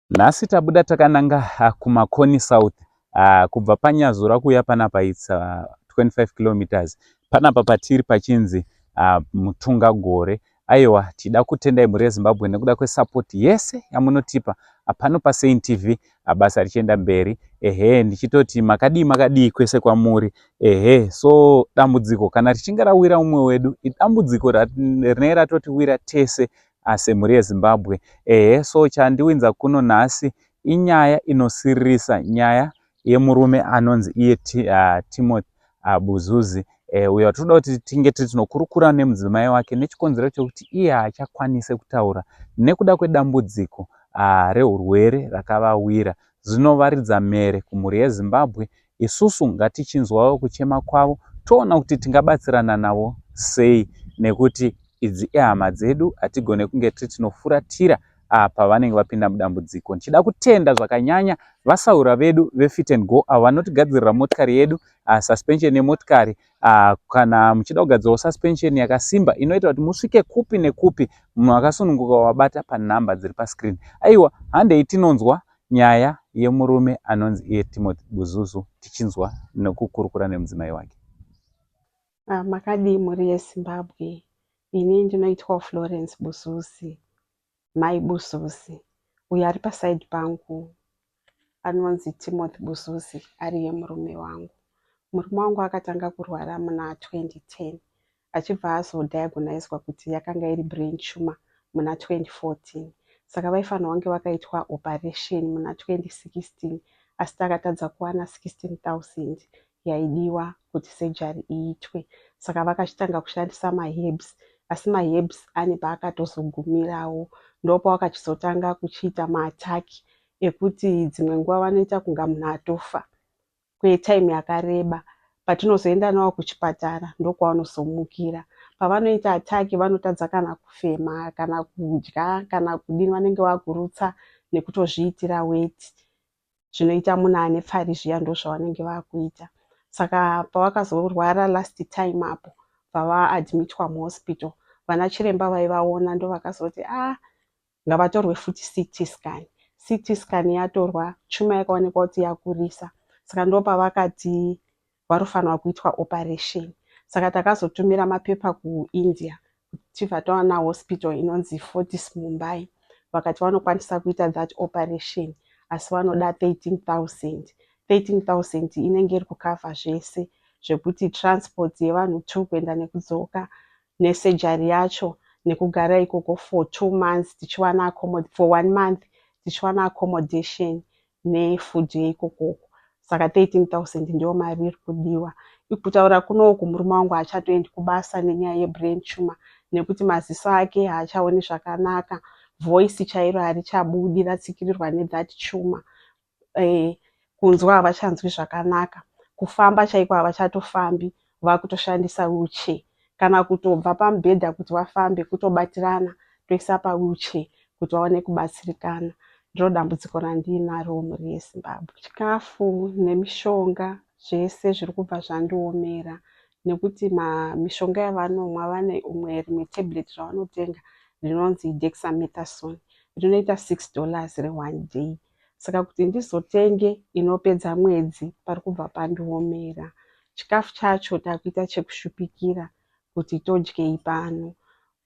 Nhasi tabuda takananga ah, kuMakoni South ah, kubva paNyazura kuuya panapa its 25 ah, kilometers panapa patiri pachinzi Mutunga Gore. Aiwa tida kutendai mhuri yeZimbabwe nekuda kwesapoti yese yamunotipa pano paSaint TV basa richienda mberi ehe ndichitoti makadii makadii kwese kwamuri ehe so dambudziko kana richinge rawira umwe wedu idambudziko rinenge ratotiwira tese Haa semhuri yeZimbabwe ehe so chandiwinza kuno nhasi inyaya inosiririsa nyaya yemurume anonzi iye Timothy Buzuzi uyo watiri kuda kuti tinge tiri tinokurukura nemudzimai wake nechikonzero chekuti iye haachakwanise kutaura nekuda kwedambudziko rehurwere rakavawira zvino varidza mhere kumhuri yeZimbabwe isusu ngatichinzwawo kuchema kwavo toona kuti tingabatsirana navo sei nekuti idzi ihama dzedu hatigone kunge tiri tinofuratira ah, pavanenge vapinda mudambudziko. Ndichida kutenda zvakanyanya vasaura vedu veFit and Go avo vanotigadzirira motikari yedu, uh, suspension yemotikari uh, kana muchida kugadzirawo suspension yakasimba inoita kuti musvike kupi nekupi munhu akasununguka wabata panhamba dziri pascreen. Aiwa handei tinonzwa Nyaya yemurume anonzi iye Timothy Buzuzu tichinzwa nekukurukura nemudzimai wake. Ah, makadii mhuri yeZimbabwe. Ini ndinoitwawo Florence Buzuzi, Mai Buzuzi. Uyo ari paside pangu anonzi Timothy Buzuzi ariye murume wangu. Murume wangu akatanga kurwara muna 2010 achibva azo diagoniswa kuti yakanga iri brain tumor muna 2014 saka vaifanirwa kunge vakaitwa operation muna 2016 asi takatadza kuwana 16000 yaidiwa kuti surgery iitwe saka vakachitanga kushandisa maherbs asi maherbs ane paakatozogumirawo ndopawakachizotanga kuchiita maattack ekuti dzimwe nguva vanoita kunga munhu atofa kwetime yakareba patinozoenda nawo kuchipatara ndokwaanozomukira pavanoita attack vanotadza kana kufema kana kudya kana kudini vanenge vakurutsa nekutozviitira weti zvinoita munhu ane pfari zviya ndozvavanenge vakuita saka pavakazorwara last time apo pavaadmitwa muhospital vana chiremba vaivaona ndovakazoti a ah, ngavatorwe futi CT scan. CT scan yatorwa chuma yakaonekwa kuti yakurisa saka ndopavakati varofanirwa kuitwa operation saka takazotumira mapepa kuindia tichibva tawana hospital inonzi fortis mumbai vakati vanokwanisa kuita that operation asi vanoda 13000 13000 inenge iri kukavha zvese zvekuti transport yevanhu two kuenda nekudzoka nesurgery yacho nekugara ikoko for two months tichiwana accommod for one month tichiwana accommodation nefood yeikoko uko saka 13000 ndiyo mari iri kudiwa ikutaura kuno uku murume wangu haachatoendi kubasa nenyaya yebrain tumor nekuti maziso ake haachaoni zvakanaka voice chairo harichabudi ratsikirirwa nethat tumor eh, kunzwa havachanzwi zvakanaka kufamba chaiko havachatofambi vakutoshandisa wheelchair kana kutobva pamubhedha kuti vafambe kutobatirana toisa pawheelchair kuti vaone kubatsirikana ndiro dambudziko randiinaro mhuri yezimbabwe chikafu nemishonga zvese zviri kubva zvandiomera nekuti mishonga yavanomwa vane umwe rimwe tablet ravanotenga rinonzi dexamethasone rinoita six dollars reone day saka kuti ndizotenge inopedza mwedzi pari kubva pandiomera. Chikafu chacho takuita chekushupikira kuti todyei pano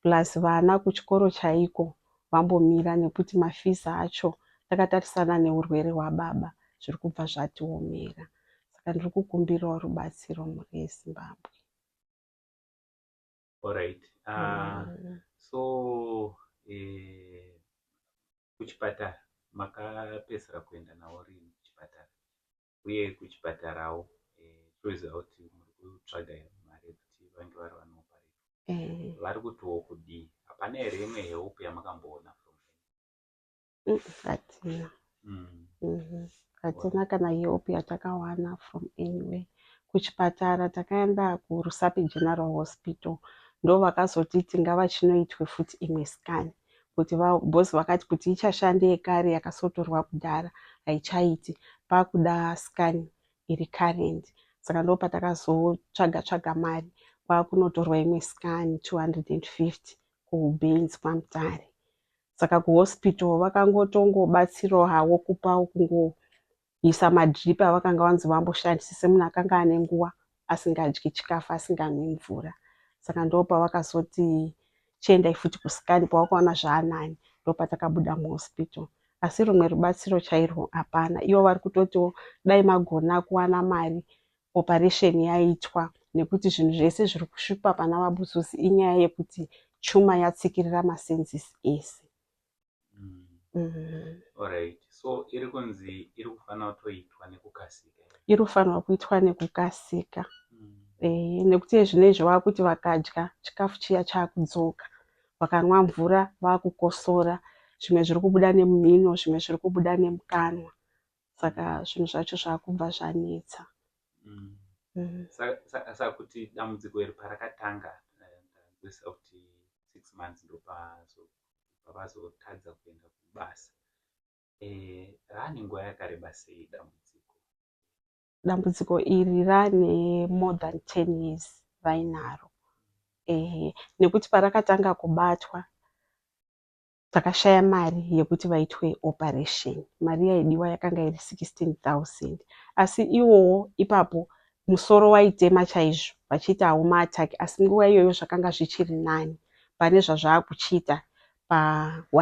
plus vana kuchikoro chaiko vambomira nekuti mafees acho takatarisana neurwere hwababa zviri kubva zvatiomera saka ndiri kukumbirawo rubatsiro mhuri yezimbabwe Alright. Uh, mm. So eh, kuchipatara makapedzisira kuenda nawo rini kuchipatara uye kuchipatarawo eh, toziva kuti muri kutsvaga mari yekuti vange vari vanopareta eh. vari kutiwo kudii hapana here imwe help yamakamboona Mm, hatina Mm. Mhm. hatina kana help yatakawana from anywhere kuchipatara takaenda kurusapi general hospital ndo vakazotiti ngavachinoitwe futi imwe scan kuti va- boss vakati kuti ichashande yekare yakasotorwa kudhara haichaiti pakuda scan iri current saka ndo patakazotsvaga tsvaga mari kwakunotorwa imwe scan 250 kubenz kwamutare saka kuhospital vakangotongobatsirawo havo kupawo kungoisa madrip avakanga vanzi vamboshandise semunhu akanga ane nguva asingadyi chikafu asinganwi mvura saka ndopavakazoti chiendai futi kusikani pavakaona zvaanani ndopatakabuda muhospital asi rumwe rubatsiro chairwo hapana ivo vari kutotiwo dai magona kuwana mari operation yaitwa nekuti zvinhu zvese zviri kusvipa pana vabuzuzi inyaya yekuti chuma yatsikirira masenses ese mm. Mm. Alright. so iri kunzi iri kufanira kutoitwa nekukasika iri kufanirwa kuitwa nekukasika mm. e, nekuti zvine izvi vakuti vakadya chikafu chiya chaakudzoka vakanwa mvura vakukosora zvimwe zviri kubuda nemumhino zvimwe zviri kubuda nemukanwa saka zvinhu zvacho zvakubva zvanetsa mm. mm. saka kuti dambudziko iri parakatanga ndazvesa eh, kuti six months ndopavazotadza kuenda kubasa eh, rane nguva yakareba sei dambudziko dambudziko iri rane more than ten years vainaro ehe nekuti parakatanga kubatwa Takashaya mari yekuti vaitwe operation. Mari yaidiwa yakanga iri 16,000 asi iwowo ipapo musoro waitema chaizvo vachiita hawo maattack asi nguva iyoyo zvakanga zvichiri nani pane zvazvaakuchiita pa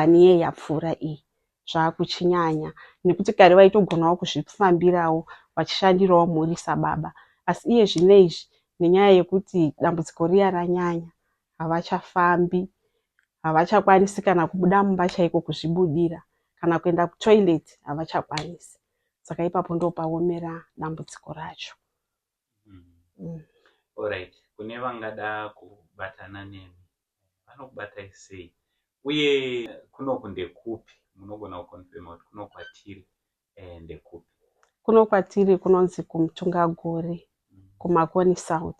one year yapfuura iyi zvaakuchinyanya nekuti kare vaitogonawo kuzvifambirawo vachishandirawo mhuri sababa asi iye zvino izvi nenyaya yekuti dambudziko riya ranyanya havachafambi, havachakwanisi kana kubuda mumba chaiko kuzvibudira kana kuenda kutoilet havachakwanisi. Saka ipapo ndopaomera dambudziko racho. Mm. Alright, kune vangada kubatana nemi vanokubatai sei uye kunoku ndekupi? Munogona kukonfirma kuti kuno kwatiri eh, ndekupi? Kuno kwatiri kunonzi kuMutungagore, kuMakoni South.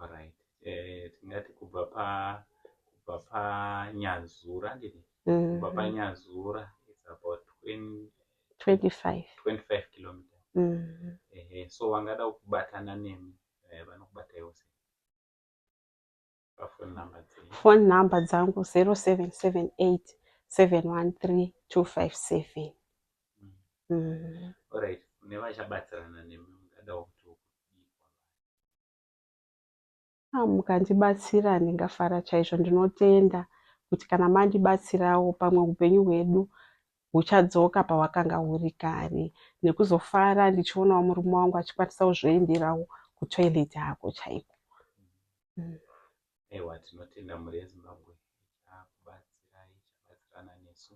Alright. Eh, tingati kubva pa kubva pa Nyazura ndini. Kubva pa Nyazura it's about 20 25 25 kilometers. Mhm. Ehe, so vangada kubatana nemi eh, vanokubata yose. phone number dzangu 0778 713 257 mm. Alright, nevachabatsirana nemi mungadawo kuti ah, mukandibatsira ndingafara chaizvo ndinotenda kuti kana mandibatsirawo pamwe upenyu hwedu huchadzoka pahwakanga huri kare nekuzofara ndichionawo murume wangu achikwanisa kuzvienderawo kutoilet hako chaiko mm. ewa tinotenda mhuri yezimbabwe ichakubatsirai ichabatsirana nesu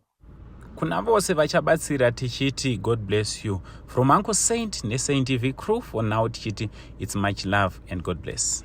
kuna vose vachabatsira tichiti god bless you from uncle saint nesaint tv crew for now tichiti its much love and god bless